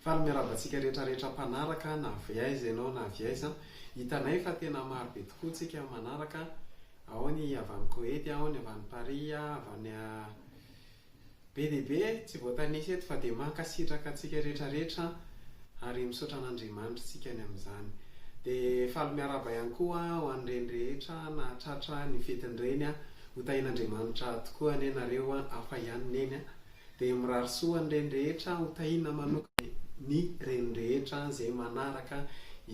Faly miarahaba antsika rehetra rehetra mpanaraka na avy aiza ianao na avy aiza. Hitanay fa tena maro be tokoa tsika manaraka, ao ny avy any Koety, ao ny avy any Paris, avy any be dia be e! tsy voatanisa eto fa dia mankasitraka antsika rehetra rehetra ary misaotra an'Andriamanitra tsika ny amin'izany. Dia faly miarahaba ihany koa ho an'ireny rehetra nahatratra ny fetin'ireny, ho tahian'Andriamanitra tokoa anie nareo, hafa ihany neny a! Dia mirary soa ny reny rehetra ho tahina manokana e! Ny reny rehetra izay manaraka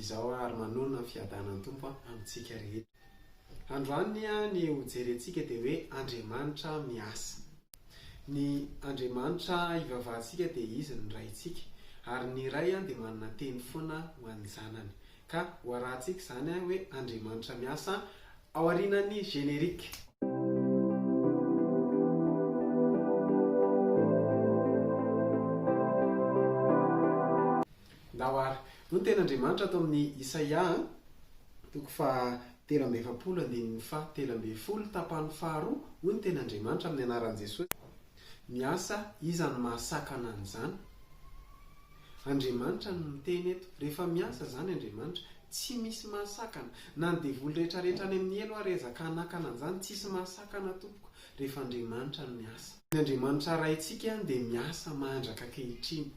izao ary manonona ny fiadanan'ny Tompo amintsika rehetra. Androany nia ny ho jerentsika dia hoe Andriamanitra miasa. Ny Andriamanitra hivavahantsika dia Izy ny Raintsika. Ary ny Ray dia manana teny foana ho an'ny zanany. Ka ho arahantsika izany an hoe Andriamanitra miasa ao aorianan'ny générique. Ndao ary. Hoy ny tenin'Andriamanitra ato amin'ny Isaia an, toko faha telo amby efapolo andininy faha telo ambin'ny folo tapany faharoa, hoy ny tenin'Andriamanitra amin'ny anaran'i Jesosy, Miasa iza no mahasakana an'izany? Andriamanitra no miteny eto. Rehefa miasa izany Andriamanitra, tsy misy mahasakana. Na ny devoly rehetra rehetra any amin'ny helo ary ezaka hanakana an'izany, tsisy mahasakana tompoko, rehefa Andriamanitra no miasa. Ny Andriamanitra Raintsika dia miasa mandraka ankehitriny,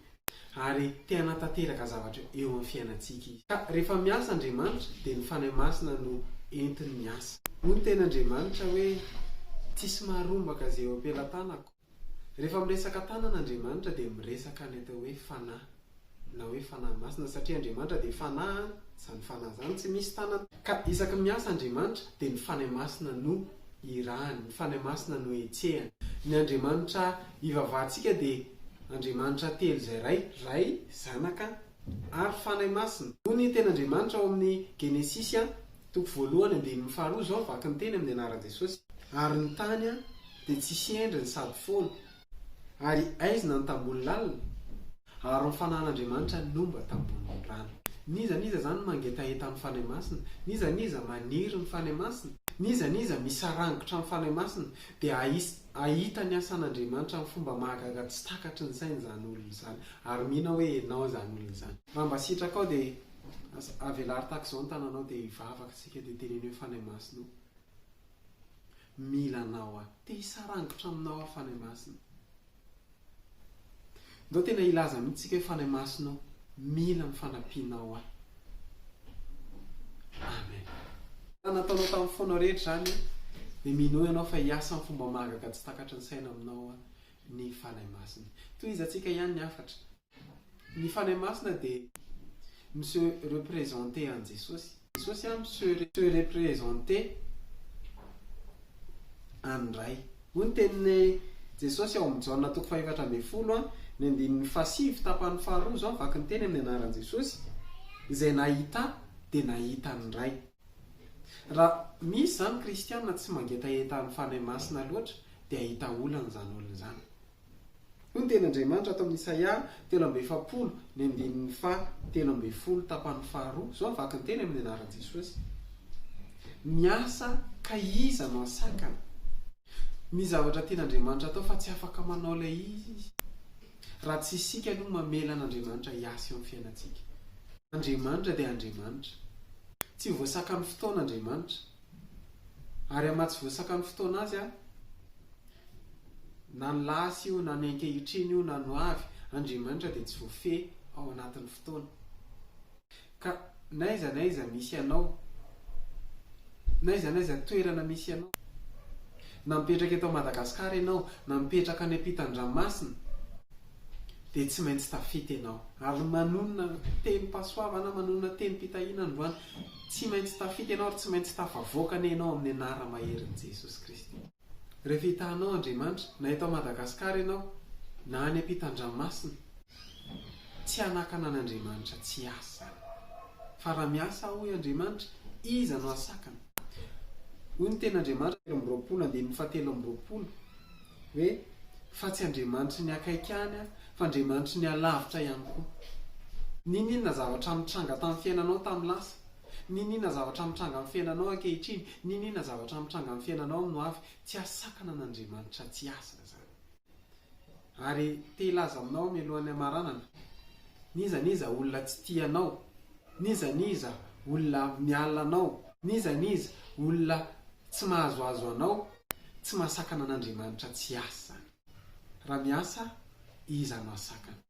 ary te hanatanteraka zavatra eo amin'ny fiainantsika Izy. Ka rehefa miasa Andriamanitra, dia ny Fanahy Masina no entiny miasa. Hoy ny tenin'Andriamanitra hoe, Tsisy maharombaka izay eo am-pelatanako. Rehefa miresaka tanana Andriamanitra dia miresaka ny atao hoe fanahy na hoe fanahy masina satria Andriamanitra dia fanahy an, izany fanahy izany tsy misy tanana. Ka isaky ny miasa Andriamanitra dia ny fanahy masina no irahany, ny fanahy masina no hetsehany. Ny Andriamanitra ivavahantsika dia Andriamanitra telo izay iray, Ray, Zanaka, ary Fanahy Masina. Hoy ny Tenin'Andriamanitra ao amin'ny Genesisy a, toko voalohany andininy faharoa izao, vaky ny teny amin'ny anaran'i Jesosy. Ary ny tany a, dia tsisy endriny sady foana, ary aizina ny tambohony lalina, ary ny Fanahin'Andriamanitra no mba tambohon'ny rano. N'iza n'iza izany no mangetaheta amin'ny Fanahy Masina, n'iza n'iza maniry ny Fanahy Masina, n'iza n'iza misarangitra amin'ny Fanahy Masina, dia hahisy. Hahita ny asan'Andriamanitra amin'ny fomba mahagaga tsy takatry ny sainy izany olona izany, ary mino aho hoe ianao izany olona izany. Raha mba sitrakao dia avelaro tahaka izao ny tananao dia hivavaka isika dia teneno hoe Fanahy Masina o, mila anao aho, te hisarangotra aminao aho Fanahy Masina. Ndao tena hilaza mihitsy tsika hoe Fanahy Masina o, mila ny fanampianao ahy. Amen. Raha nataonao tamin'ny fonao rehetra izany, dia minoa ianao fa hiasa amin'ny fomba mahagaga tsy takatry ny saina aminao ny Fanahy Masina. Tohizatsika ihany ny hafatra. Ny Fanahy Masina dia mi se representer an'i Jesosy. Jesosy an mi se representer an'ny Ray. Hoy ny tenin'i Jesosy ao amin'ny Jaona toko fahefatra ambin'ny folo an, ny andininy fahasivy tapany faharoa, izao ny vaky ny teny amin'ny anaran'i Jesosy, Izay nahita Ahy dia nahita ny Ray. Raha misy izany kristiana tsy mangetaheta ny Fanahy Masina loatra dia hahita olana izany olona izany. Hoy ny teny Andriamanitra ato amin'ny Isaia telo amby efapolo, ny andininy faha telo ambin'ny folo tapany faharoa, izao ny vakin'ny teny amin'ny anaran'i Jesosy, Miasa ka iza no hasakana? Misy zavatra tian'Andriamanitra atao fa tsy afaka manao ilay izy raha tsy isika aloha mamela an'Andriamanitra hiasa eo amin'ny fiainantsika. Andriamanitra dia Andriamanitra. Tsy voasakan'ny fotoana Andriamanitra. Ary aman tsy voasaka ny fotoana azy an! Na ny lasa io na ny ankehitriny io na ny ho avy, Andriamanitra dia tsy voafehy ao anatin'ny fotoana. Ka n'aiza n'aiza misy anao, n'aiza n'aiza toerana misy anao, na mipetraka eto Madagasikara ianao na mipetraka any ampitan-dranomasina, dia tsy maintsy tafita ianao. Ary manonona tenim-pahasoavana, manonona tenim-pitahiana androany. Tsy maintsy tafita ianao ary tsy maintsy tafavoaka anie ianao amin'ny anara maherin'i Jesosy Kristy. Rehefa hitanao Andriamanitra, na eto Madagascar ianao, na any ampitan-dranomasina, tsy hanakana an'Andriamanitra tsy hiasa izany. Fa raha miasa aho hoy Andriamanitra, iza no hahasakana? Hoy ny tenin'Andriamanitra. Telo amby roapolo, andininy fahatelo amby roapolo, Hoe, fa tsy Andriamanitry ny akaiky any aho, fa Andriamanitry ny alavitra ihany koa. N'inon'inona zavatra mitranga tamin'ny fiainanao tamin'ny lasa, n'inon'inona zavatra mitranga amin'ny fiainanao ankehitriny, n'inon'inona zavatra mitranga amin'ny fiainanao amin'ny ho avy, tsy hasakana an'Andriamanitra tsy hiasa izany. Ary te hilaza aminao mialohan'ny hamaranana, n'iza n'iza olona tsy tia anao, n'iza n'iza olona miala anao, n'iza n'iza olona tsy mahazoazo anao, Tsy mahasakana an'Andriamanitra tsy hiasa izany. Raha miasa iza no hahasakana?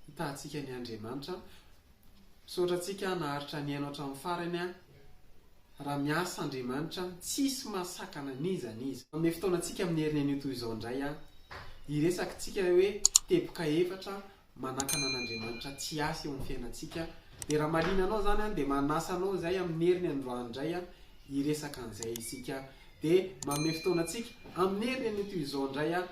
Hitahantsika ny Andriamanitra. Misaotra antsika naharitra nihaino hatramin'ny farany aho. Raha miasa Andriamanitra tsisy mahasakana n'iza n'iza. Hanome fotoana antsika amin'ny heriny anio toy izao indray aho. Hiresaka tsika hoe teboka efatra manakana an'Andriamanitra tsy hiasa eo amin'ny fiainantsika dia raha marina anao izany dia manasa anao izay amin'ny heriny androany indray hiresaka an'izay isika dia manome fotoana antsika amin'ny heriny anio toy izao indray aho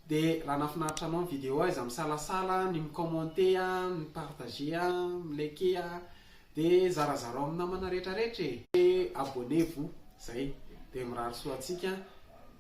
dia raha nafinaritra anao ny vidéo aiza misalasala ny mi-commenter ny partager mi-liker dia zarazarao amin'ny namana rehetra rehetra e abonnez vous izay dia mirary soa antsika